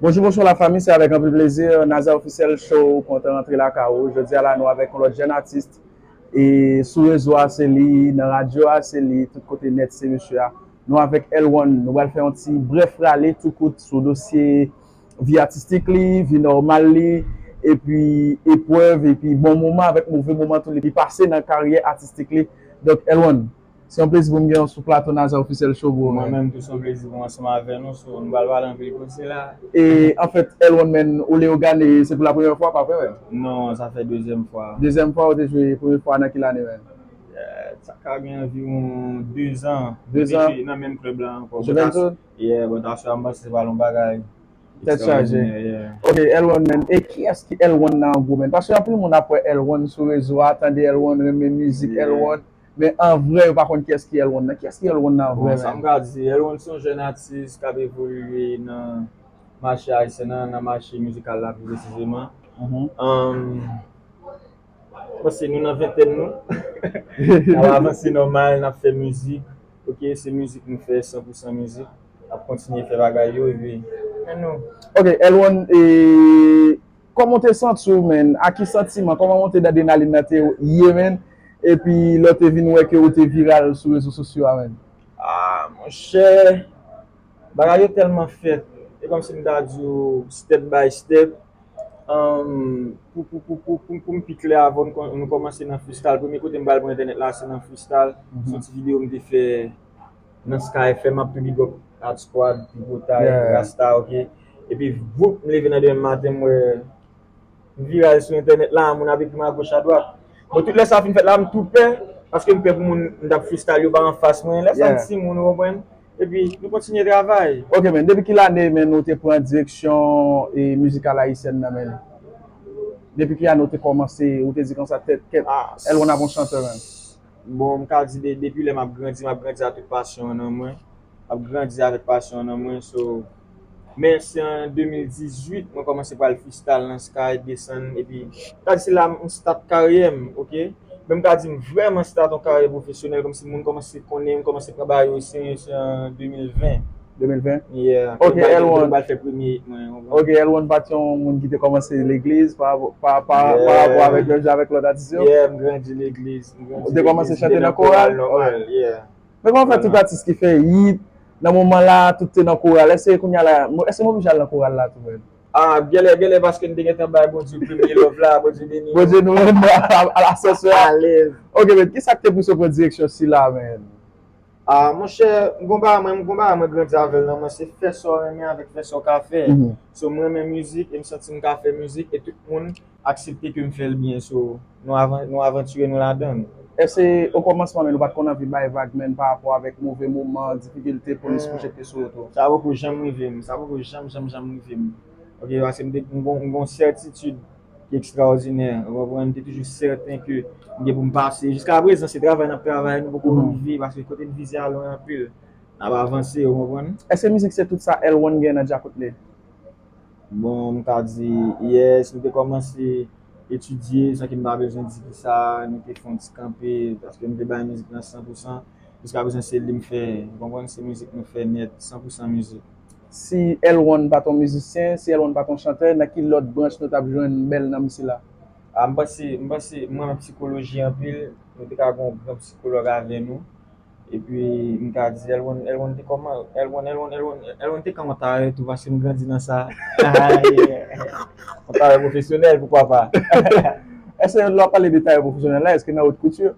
Bonjou bonswa la fami se avèk anpil plezi Nazer officiel show kontan rantre lakay ou jodi a la nou avèk yon lòt jèn atis e sou rezo a se li nan radyo a se li tout kote nèt se misye a nou avèk L-one nou pral fè yon ti brèf rale tou kout sou dosye vi atistik li vi nòmal li epi eprèv epi bon moman avèk move moman tou li pase nan karyè atistik li donk L-one. Se yon plezi pou m gen w sou plato Nazer Officiel Show bro. Mwen menm tou se yon plezi pou m ansanm avè nou so nou pral pale anpil koze la. E anfèt El One Man ou Leogane se pou la premyè fwa pa vre menm? Non sa fè dezyèm fwa. Dezyèm fwa ou te jwe premye fwa nan ki lane menm? Sa ka gen anviwon 2 zan. Mwen te jwe nan menm klèb la ankò. Juventud? Yeah but aswè a m panse se pral yon bagay extraordinaire yeah. Ok El One Man e kiyès ki El One nan an gwo menn? Paske anpil moun ap wè El One sou rezo a, tande El One, renmen mizik El One. Men an vrè yo pa konn kiyès ki L-Ron nan. Kiyès ki L-Ron nan an vrè menm? Bon, sa m ka di, L-Ron se yon jèn atis k ap evolye nan mache ayisyen an, nan mache mizikal la pi presizeman. M panse nou nan ventèn nou. N ap avanse nòmal, n ap fè mizik. Ok, se mizik nou fè, san pou san mizik. N ap kontinye fè bagay yo epi, men nou. Ok, L-Ron e. Kòman w te santi w menn? Ak ki santiman? Kòman monte d'adrenaline nan te ye menn? Epi lè w te vin wè ke ou te viral sou rezo sosyo a menn? Ah monchè, bagay yo tèlman fèt, e kòmsi m ta di w step by step. Pou pou m pi klè avè w, nou kòmanse nan freestyle. Premye kote m pral pran entènèt la se nan freestyle, sou ti videyo m te fè. nan sky fm map tou big up art squad tripotay rasta ok epi voup m leve nan demen maten m wè m viral sou entènèt la moun ap ekrim agoch adwat bon tout lè sa fin fèt la m tou pè paske m pè pou moun m tap freestyle yo pa anfas mwen lè sa m timoun ou konprann epi nou kontinye travay. Ok men depi ki lane menn ou te pran direksyon mizikal ayisyèn nan menn depi ki ane ou te kòmanse ou te di konsa tèt kèt L1 ap yon chantè menn. Bon, m ka di depi lè m ap grandi, m ap grandi a tout pasyon an nan mwen. M ap grandi avèk pasyon an nan mwen. So, men se an 2018 mwen kòmanse pral freestyle nan Sky, desann epi m ka di se la m start karyè m, ok. Men m ka di m vrèman start yon karyè pwofesyonèl kòmsi moun kòmanse konnen m, kòmanse pran bagay o serye se an 2020. 2020? Yeah. Ok, L1. Yo te bal fè premye it mwen, ou konprann? Ok, L1 pa t yon moun ki te kòmanse legliz pa rapò avèk lè w jwe avèk lòt atis yo? Yeah, m grandi legliz. M grandi legliz. Ou te kòmanse chante nan koral? Nan koral, nòmal, yeah. Men kòman fè tout atis ki fè it, nan moman la, tout te nan koral? Èske kounya la, èske m oblije al nan koral la tou menm? Ah, gèlè, gèlè paske n te gentan bay Bondye premye love la, Bondye beni nou. Bondye nou menm, a la sòsyè a. Alèz. Ok men, kisa k te pouse w pran direksyon sila menm? Ah monchè m gon bagay mwen m gon bagay mwen grandi avèl nan mwen se fè sa w renmen avèk fè sa w ka fè so m renmen mizik e m santi m ka fè mizik e tout moun aksepte ke m fè l byen so nou avantire nou ladann. Èske o kòmansman menn ou pat konn anvi bay vag menn pa rapò avèk move moman, difikilte polis pwojekte sou ou tou? Sa poko janm rive m sa poko janm janm janm rive m ok paske m gon m gon sètitid ki ekstraòdinè. Ou konprann? M te toujou sèten ke m gen pou m pase. Jiska prezan, se travay n ap travay, nou poko rive, paske kote n vize a lwen anpil. N ap avanse, ou konprann? Èske mizik se tout sa L-one gen nan djakout li? Bon, m ka di, yes, nou te kòmanse etidye, san ke m pa bezwen di ki sa, nou te fè yon ti kanpe, paske m te bay mizik lan san pou san. Jiska prezan se li m fè, ou konprann? Se mizik nou fè nèt, san pou san mizik. Si L-one pat on mizisyen, si L-one pat on chantè, nan ki lòt branch nou tap jwenn bèl nanm sila? A m panse, m panse, m renmen psikoloji anpil, nou te ka gen yon gran psikològ avè nou, epi m ka di L-one, L-one te kòman, L-one, L-one, L-one, L-one te ka yon tayè tou paske m grandi nan sa, yon tayè pwofesyonèl poukwa pa. Èske lè w ap pale de tayè pwofesyonèl la, èske nan haute couture?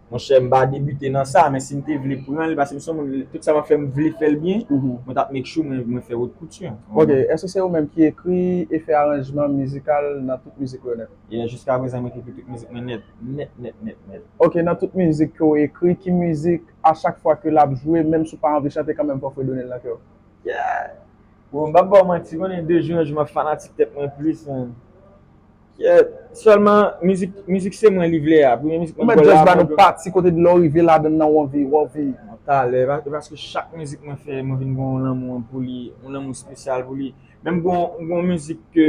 Monchè m pa debute nan sa men si m te vle pran li pase m son moun tout sa map fè m vle fè l byen mwen tap make sure mwen fè haute couture. Ok, èske se ou menm ki ekri e fè aranjman mizikal nan tout mizik ou yo nèt? Yeah, jiskaprezan mwen ki ekri tout mizik mwen nèt, nèt nèt nèt nèt. Ok, nan tout mizik ke w ekri ki mizik a chak fwa ke lap jwe menm si w pa anvi chante kanmenm fò w fredone l nan kè w? Yeah! Bon m pap ba w manti konnen de jou an jou map fanatik tèt mwen plis man. Selman mizik se mwen li vle a. Premye mizik mwen gol la. Mwen jazz ba nou pati kote dlo an rive ladan nan ou anvi ou anvi. Mwen talè e paske chak mizik mwen fè mwen vin gon yon lanmou pou li yon lanmou spesyal pou li menm gon mizik ke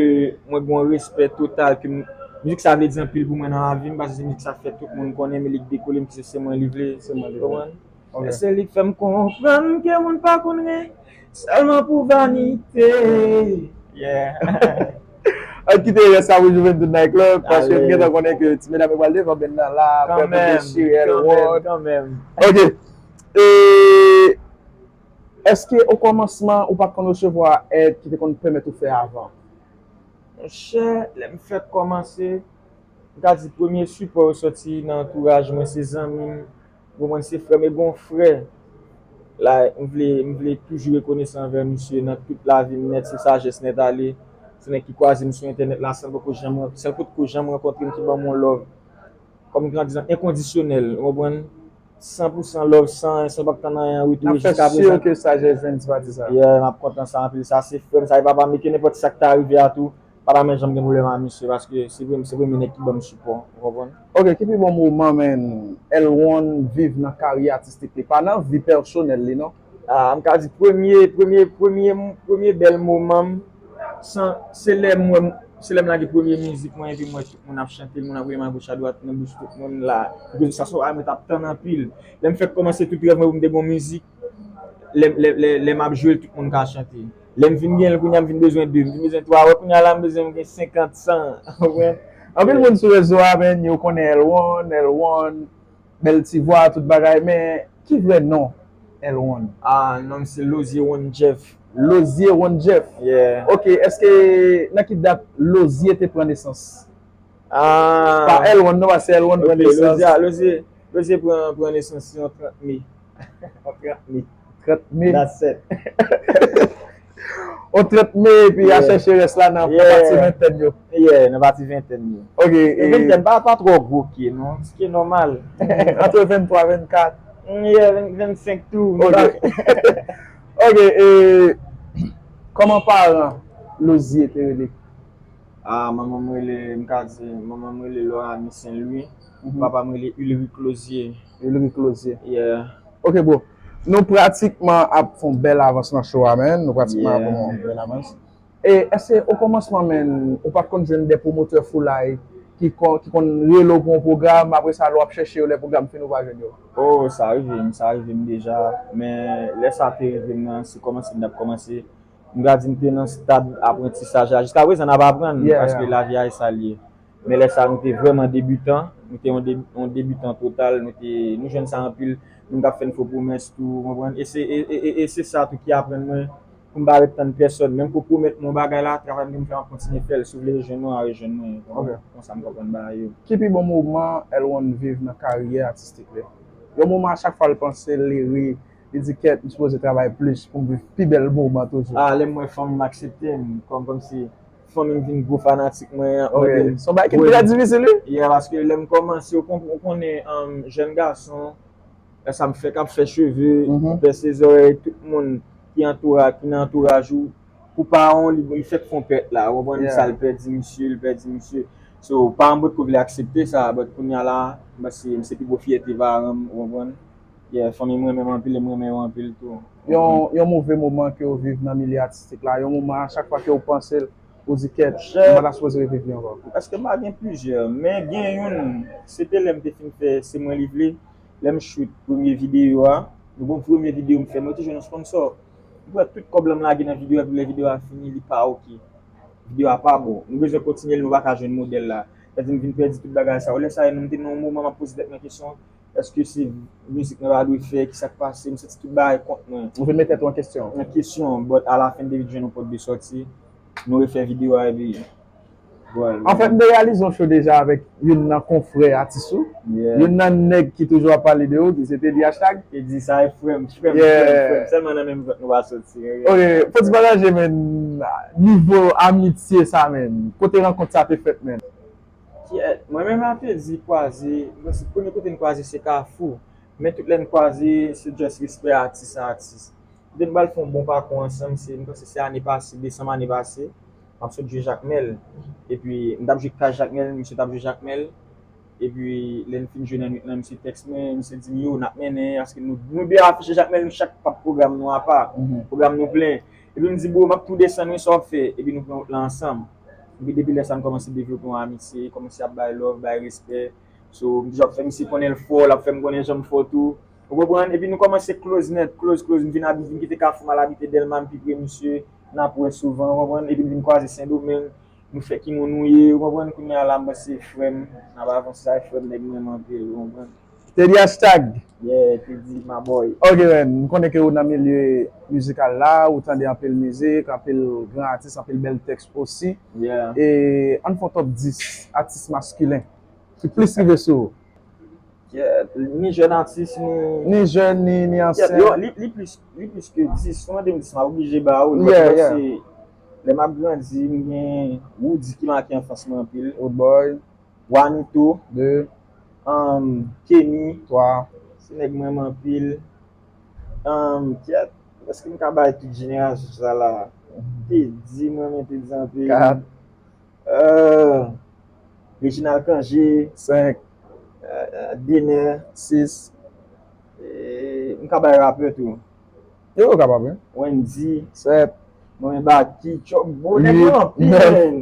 mwen gon respè total ke mizik sa vle di anpil pou mwen nan lavim paske se mizik sa fè tout moun konnen men li k dekole m se se mwen li vle se mwen li vle. Men se li k fè m konprann ke moun pa konn ri sèlman pou vanite yeah Ann kite rès la pou Juventud Night Club paske m gentan konnen ke ti medam yo pral devan band nan la aprè m dechire Elwood kanmenm Ok Èske o kòmansman ou pa t konn resevwa èd ki te konn pèmèt ou fè avan? Monchè lè m fèk kòmanse m ka di premye sipò yo soti nan antouraj mwen se zanmi m. Bon mwen se frèm e gon frè la m vle m vle toujou rekonesan anvè misye nan tout lavim nèt se sajès nèt ale se nèg ki kwazem sou entènèt la sèl poko janm sèl pot ko janm rankontrem ki banm yon love kòm gran dizan enkondisyonèl ou konprann san pou san love san san pap tann anyen an retou e jiska prezan. Nap fè sur ke sajès vin di pa di sa. Yeah map kontan sa anpil sa se frèm sa e papam e ke nenpòt sak ta rive a tou. pa ta menm janm gen pwoblèm a misye paske se premye nèg ki banm sipò ou konprann. Ok ki pi bon moman men L-won viv nan karyè atistik li pa nan vi pèsonèl li non. Ah m ka di premye premye premye premye bèl moman m san se lè m wè m se lè m lage premye mizik mwen epi m wè tout moun ap chante moun ap rele m a goch a dwat nan bouch tout moun la epi sa se yon bagay mwen tap tann anpil lè m fèk kòmanse tout rèv mwen pou m te gon mizik lè map jwel tout moun ka chante lèm fin genl kounya m fin bezwen 2 m fin bezwen 3 wè kounya la m bezwen m gen 50 100 ou konprann anpil moun sou rezo a men yo konnen L-one L-one bèl ti vwa tout bagay men ki vrè non L-one ah non m se Lozier one Jeff Lozier one Jeff yeah ok eske nan ki dat Lozier te pran nesans ah pa L-one non paske L-one pran nesans ok Lozier Lozier Lozier pran nesans yon 30 mai. On 30 me. 30 me. La 7. On 30 me epi ya chèche rès la nan pati ventèn yo. Yeah, nan pati ventèn yo. Ok. E ventèn pa pa twò gwo pye non. Ti pye nòmal. Antre 23, 24. Yeah, 25 tou. Ok. Ok e kòman paran Losie te rele? Ah, manman m rele, m ka di, manman m rele Loranie Saint Louis. Papa m rele Ulrick Losie. Ulrick Lozier. Yeah. Ok bro. Nou pratikman ap fè yon bèl avans nan show a man. Nou pratikman ap fè yon bèl avans. E èske okòmansman man, ou pat konn jwenn de pwomotè foulay ki konn rele w pou yon pwogram, apre sa lè w ap chèche yo lè pwogram fini ou pa jwenn yo? Oh sa rive m, sa rive m deja. Men lè sa te rive m nan, se kòmanse m t ap kòmanse. M ka di m te nan stad aprantisaj la. Jiska prezan n ap aprann paske lavi a e sa l ye. men lè sa nou te vrèman debutan, nou te yon debutan total, nou te, nou jwenn sa anpil, moun kap fèn fo pwomès tou, ou konprann, e se sa tou ki aprann mwen poum pa ret tann pèsòn, menm ke w pwomèt mwen yon bagay la, travay m genm fè m ap kontinye fèl, si w vle rejwenn mwen wa rejwenn mwen, ou konprann, se konsa m konprann bagay yo. Ki pi bon moman L-one viv nan karyè atistik li? Yon moman a chak fwa l panse l li ri, li di kèt m sipoze travay plis poum viv pi bèl moman toujou. Ah lèm wè fanm akseptem kòm kòmsi. fanmim vin gwo fanatik mwen yap mandem. Ok, son bagay ki trè difisil wi. Yeah, paske lèm kòmanse ou konnen jèn gason, lè sa m fèk ap fè cheve, pèse zòrèy, tout moun ki antouraj, ki nan antouraj ou, pou paran w li fèk fon pèt la, ou konprann sa, li pèdi misye, li pèdi misye. So, paran m potko vle aksepte sa, but kounya la, m panse se pi gwo fyète paran m, ou konprann. Yeah fanmi m renmen m anpil e m renmen yo anpil tou. Yon move moman ke ou viv nan milye atistik la, yon moman a chak fwa ke ou panse l, ou di kèt, m pa ta sipoze reviv li ankò. Eske m pa gen plizyè, men gen youn, se te lè m te fin fè Se Mwen Li Vle, lè m shoot premye videyo a, yon bon premye videyo m fè, mwen te jwenn yon sponsò, m pran tout kòb la m lage nan videyo a epi lè videyo a fini li pa ok, videyo a pa bon, nou bezwen kontinye l nou pa ka jwenn modèl la, sa vle di m vin pèdi tout bagay sa yo, lè sa m te nan yon moman m ap poze tèt mwen kesyon, Eske se mizik mwen ta dwe fè? Kisak pase? M santi tout bagay kont mwen. Ou vin met tèt ou an kesyon. An kesyon. But a la fen David jwenn yon pòt de sòti. Nou refè video a epi vwal. Anfèt m te reyalize yon show deja avèk youn nan konfrè atis ou. Youn nan nèg ki toujou ap pale de ou ki se Teddy Hashtag. Teddy sa e frèm. Frèm frèm. Sèlman nan menm vant nou pa soti. Ok. Fò ti pataje menn nivo amitye sa menn. Kote rankont sa te fèt menn? Kyèèt, mwen menm ape di kwaze, se premye kote n kwaze se kafou, men tout lè n kwaze se just respè atis a atis. Kote n pral fè yon bon pakou ansanm se, m panse se ane pase, desanm ane pase, m ap sot jwe Jakmèl, epi m t ap jwe Kay Jakmèl, misye t ap jwe Jakmèl, epi lè n fin jwe nan nwit lan misye tèks mwen, misye di m yo n ap mennen, paske nou 2 afiche Jakmèl nou chak pa pwogram nou apa, pwogram nou plen, epi m di bro m ap tou desann wi sa w ap fè, epi nou pran wout lan ansanm. Epi depi lè sa n kòmanse devlope yon amitye, li kòmanse ap bay love, bay respè. So, m toujou ap fè misye konnen l fò, l ap fè m konnen jan m fò tou. Ou konprann? Epi nou kòmanse close nèt, close, close. M vin abite, m vin kite Kafou, m al abite Dèlma, m pi pre misye. N ap wè souvan, ou konprann? Epi n vin kwaze Sendomeng. Nou fè ki moun nou ye, ou konprann? Kounye a la m panse frè m, n ap avanse. Sa e frè m, nèg m renmen anpil, ou konprann? Teddy hashtag Yeah Teddy my boy. Ok man, m konnen ke ou nan milye mizikal la, ou tande anpil mizik, anpil gran atis, anpil bèl tèks osi. Yeah. E ann fè yon top 10 atis maskilen ki plis rive sou ou. Yeah, ni jèn atis ni. Ni jèn ni ansyen. Yo, li plis, li plis ke 10. Si w mande m 10 m ap oblije ba ou l. Yeah, yeah. Paske lè m ap grandi m gen Roody ki make anfans mwen anpil. Roodboy. Wanito, 2, Humm Kenny, 3, Se nèg m renmen anpil Humm Kyèt, èske m ka bay tout jenerasyon sa la a Teddy, m renmen Teddy anpil 4, Humm Reginald Cangé, 5, Dener, 6, M ka bay rapè tou Yo, ou kapab wi Wendy, 7, M renmen Baky twòp bro, nèg m renmen anpil menn.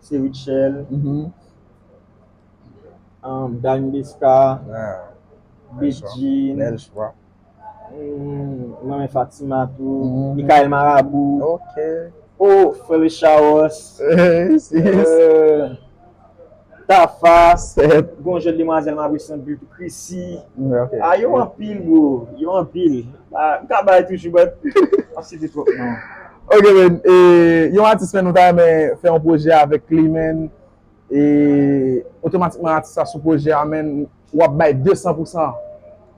Se Rutshelle, Dany Desca, Bedjine, mwen men Fatima tou, Mikael Marabou, oh Frere Chaos, Tafa, gon jèn demwazèl m apre Santi tou, Chrissy, ah yo anpil bro, yo anpil. N ka bay toujou but n ap site twòp non. Ok men yon atis men nou ta renmen fè yon pwojè avèk li men e otomatikman atis la sou pwojè a men w ap bay 200 pou san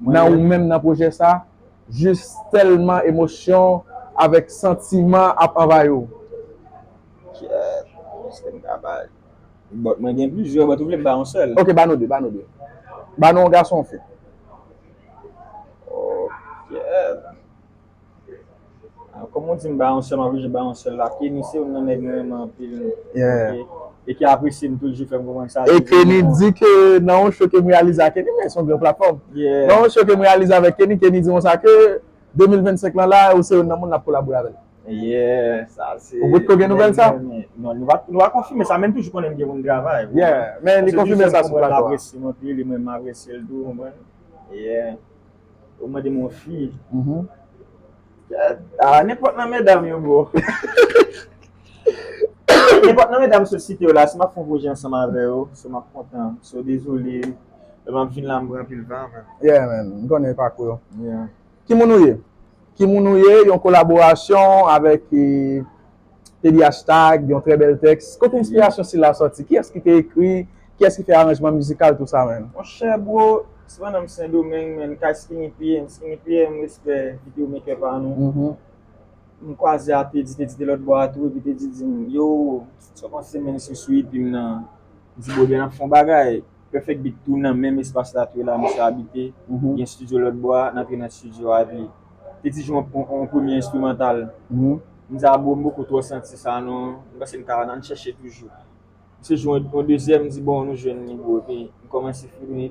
nan ou menm nan pwojè sa jis tèlman emosyon avèk santiman ap anvayi w. Kiyès m ka bay? Bòt mwen gen plizyè bòt ou vle m ba yon sèl. Ok ba nou 2 ba nou 2. Ba nou yon gason yon fi. Ok. Aw kòm ou di m ba yon sèl m oblije ba yon sèl la. Kenny se yon nan nèg mwen renmen anpil e ki apresye m tou l jis fè m konprann sa. E Kenny di ke nan yon show ke m reyalize a Kenny men se yon gran platfòm. Nan yon show ke m reyalize avèk Kenny, Kenny di konsa ke 2025 lan la ou se yon nan moun l ap kolabore avè l. Ou bout ko gen nouvel sa? Non, nou pa konfime sa men m toujou konnen m gen moun travay. Men li konfime sa sou plato a. Se yon ti jan m konprann l anpil e mwen m apresye l tou konprann. Ou mande m yon fi. Nenpòt nan medam yo bro. Nenpòt nan medam sou site yo la si m ap fè yon pwojè ansanm avè yo, so m ap kontan. So dezole, lè m ap vin la m pran anpil tan. Yeah man, m konnen pakou yo. Ki moun ou ye? Ki moun ou ye? Yon kolaborasyon avèk TDH Tag, yon trè bèl tèks. Kote enspirasyon sila sòti? Kiyès ki te ekri? Kiyès ki fè aranjman mizikal tou sa menm? Monchè bro, se pandan m Sendomeng menn kay Skinny PM, Skinny PM respè video maker pa nou, m kwaze a Teddy, Teddy te lòtbò a tou epi Teddy di m, yo, sa w panse menn sou sou EP m nan? M di bro ebyen n ap fè yon bagay. Perfect beat tou nan menm espas la tou e la misye abite, gen studio lòt bò a, n antre nan studio a epi te di jwe yon premye enstrimantal, m di a bro m poko twò santi sa non, m panse n ka nan n chèche toujou, misye jwe yon dezyèm m di bon nou jwenn li bro epi m kòmanse fini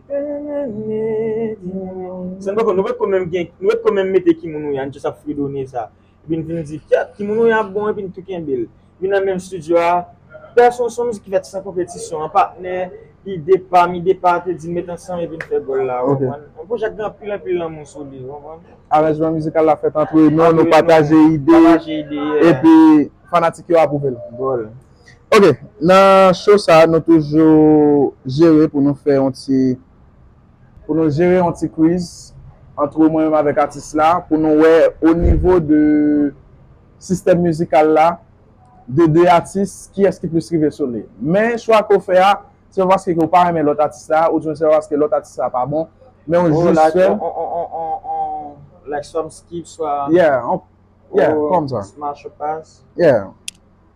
San n poko nou poko menm gen nou poko menm mete ki moun nou ye a n jis ap fredone sa. Epi n vin di, Kèt! Ki moun ou ye a bon? Epi n tou kenbe l. Epi nan menm studio a, Pè Sonson, mizik ki fèt san konpetisyon an, patnè, ide pam, ide pa, te di n met ansanm epi n fè gòl la, ou konprann? Yon pwojè k gen anpil anpil lanmou sou li, ou konprann? Aranjman mizikal la fèt antre nou, nou pataje ide, epi fanatik yo apwouve l. Gòl. Ok, nan show sa a, nou toujou jere pou nou fè yon ti pou nou jere yon ti kwiz antre mwen menm avèk atis la pou nou wè o nivo de sistèm mizikal la de 2 atis kiyès ki plis rive sou li. Men chwa ke w fè a se pa paske ke w pa renmen lòt atis la oubyen se pa paske lòt atis la pa bon men w jis fè l Like some skip swa Yeah, yeah, kòmsa Smash or pass Yeah.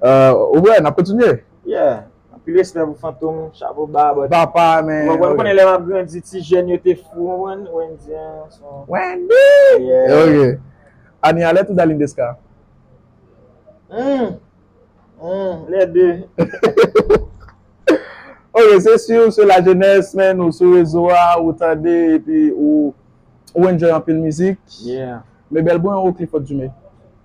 Ou wè, n ap kontinye. Yeah. Anpil respè pou Fantom, chapo ba. Papa men. Ou konnen lè m ap grandi ti jèn yo te fou ou konprann. Wendy an son. Wendy! Yeah. Ok. Anie Alerte ou Darline Desca? Humm! Humm! Les deux. Ok, se si ou se lajenès men, ou sou rezo a, ou tande epi ou enjoy anpil mizik. Yeah. Mebèl bon yon Clifford Dumé.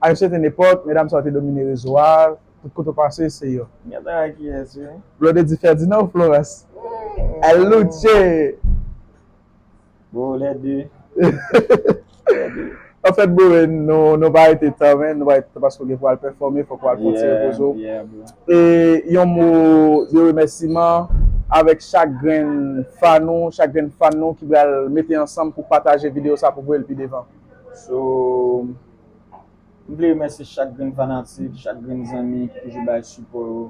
A yon sèten epòk, medam sa yo te domine rezo a, tout kote w pase se yo. M gentan wè kiyès wi. Blonde di Ferdinand ou Florence? El luce! Bon, les deux. Les deux. Anfèt bro, nou pa rete tan men, nou pa rete tan paske w gen pou w al pèfòme, fòk w al pran ti repoze w. Yeah, yeah bro. E yon mo de remèsiman avèk chak grenn fan ou, chak grenn fan nou ki pral mete ansanm pou pataje videyo sa pou voye l pi devan. So. M vle remèsye chak grenn fanatik, chak grenn zanmi ki toujou bay sipò yo.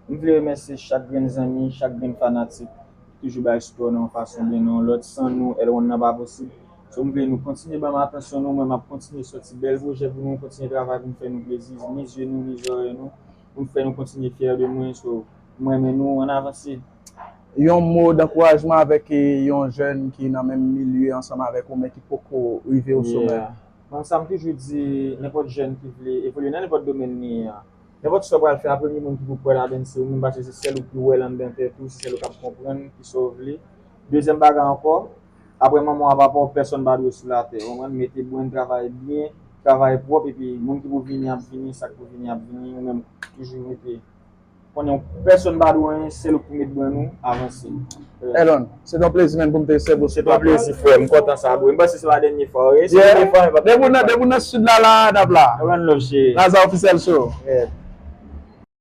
M vle remèsye chak grenn zanmi, chak grenn fanatik ki toujou bay sipò nan yon fason oubyen nan yon lòt. San nou, L-One nan pa posib. So m vle nou kontinye ban m atansyon nou, mwen m ap kontinye sòti bèl pwojè pou nou, kontinye travay pou m fè nou plezi, ni zye nou, ni zòrèy nou. pou m fè nou kontinye fyè de mwen so m renmen nou an avanse. Yon mo dankourajman avèk yon jèn ki nan menm milye ansanm avèk ou men ki poko rive o somè. Yeah. Bon sa m toujou di nenpòt jèn ki vle evolye nan nenpòt domèn li ye an. Nenpòt sa w pral fè a premye moun ki pou kwè ladann se ou menm paske se sèl ou ki wè l anndan tèt ou, se sèl ou k ap konprann kisa w vle. Dezyèm bagay ankò. Aprè manman a papa w pèsòn pa dwe sou latè ou konprann mete brenn travay byen travay pwòp epi moun ki pou vini ap vini sak pou vini ap vini ou menm toujou rete konnen w pèsòn pa dwe w anyen sèl ou k pou met brenn ou avanse. Elon, se t yon plezi menn pou m te sèvi w sou platfòm lan. Se t yon plezi frè m, m kontan sa bro. M panse se pa dènye fwa w ye. Si se dènye fwa m e pap dènye fwa. Depi w nan sud la la a n ap la. One love chéri. Laza Officiel Show.